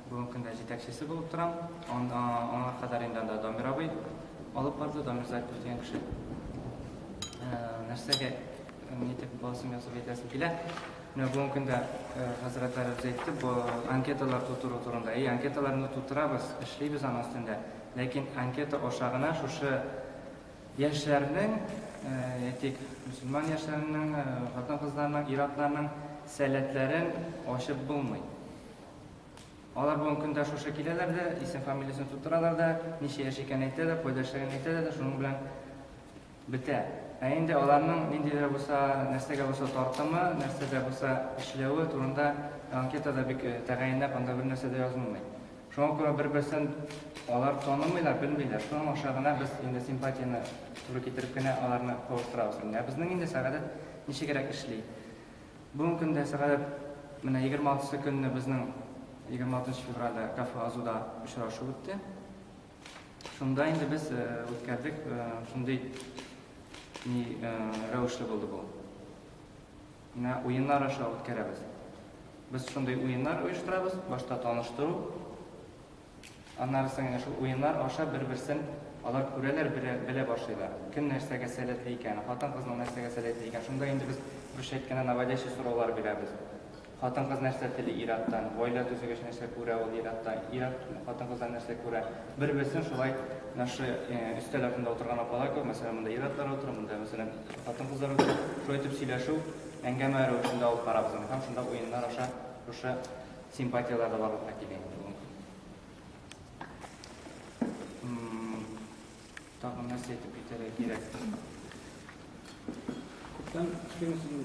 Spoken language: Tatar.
Бүгенге көндә җитәкчесе булып торам. Аңа кадәр инде анда Дамир абый алып барды, Дамир Зарипов дигән кеше. Нәрсәгә нитеп басым ясап әйтәсем килә. Менә бүгенге көндә хәзрәтләр үзе әйтте, бу анкеталар тутыру турында. И анкеталарны тутырабыз, эшлибез аның өстендә. Ләкин анкета аша гына шушы Яшьләрнең, әйтик, мөселман яшьләренең, хатын-кызларның, ир-атларның сәләтләрен ачып булмый. Алар бүген көндә шушы киләләр дә, исем-фамилиясен тутыралар да, ничә яшь икәнен әйтә дә, кайда эшләгәнен әйтә дә дә, шуның белән бетә. Ә инде аларның нинди дә булса, нәрсәгә булса тартымы, нәрсәдә булса эшләве турында анкетада бик тәгаенләп анда бернәрсә дә язылмый. Шуңа күрә бер-берсен алар танымыйлар, белмиләр. Шуның аша гына без инде симпатияне туры китереп кенә аларны кавыштырабыз инде. Ә безнең инде Сәгадәт ничегрәк эшли. Бүгенге көндә Сәгадәт менә 26 сы көнне безнең 26 нчы февральдә кафе Азуда очрашу үтте. Шунда инде без э, үткәрдек э, шундый ни э, рәвешле булды бу. Менә уеннар аша үткәрәбез. Без шундый уеннар оештырабыз, башта таныштыру, аннары соң менә шул уеннар аша бер-берсен алар күрәләр, белә башлыйлар. Кем нәрсәгә сәләтле икән, хатын-кызның нәрсәгә сәләтле икән. Шунда инде без русча әйткәндә наводящий сораулар бирәбез. Хатын-кыз нәрсә тели ир-аттан, гаилә төзегәч нәрсә күрә ул ир-атта, ир-ат хатын-кыздан нәрсә күрә. Бер-берсен шулай наши өстәл артында утырган апалар кебек, мәсәлән, монда ир-атлар утыра, монда, мәсәлән, Хатын-кызлар белән шулай итеп сөйләшү, әңгәмә рәвешендә алып карабыз аны һәм шунда уеннар аша шушы симпатияләр дә барлыкка килә инде ул. Тагын нәрсә әйтеп китәргә кирәк? Күптән кичкәннән соң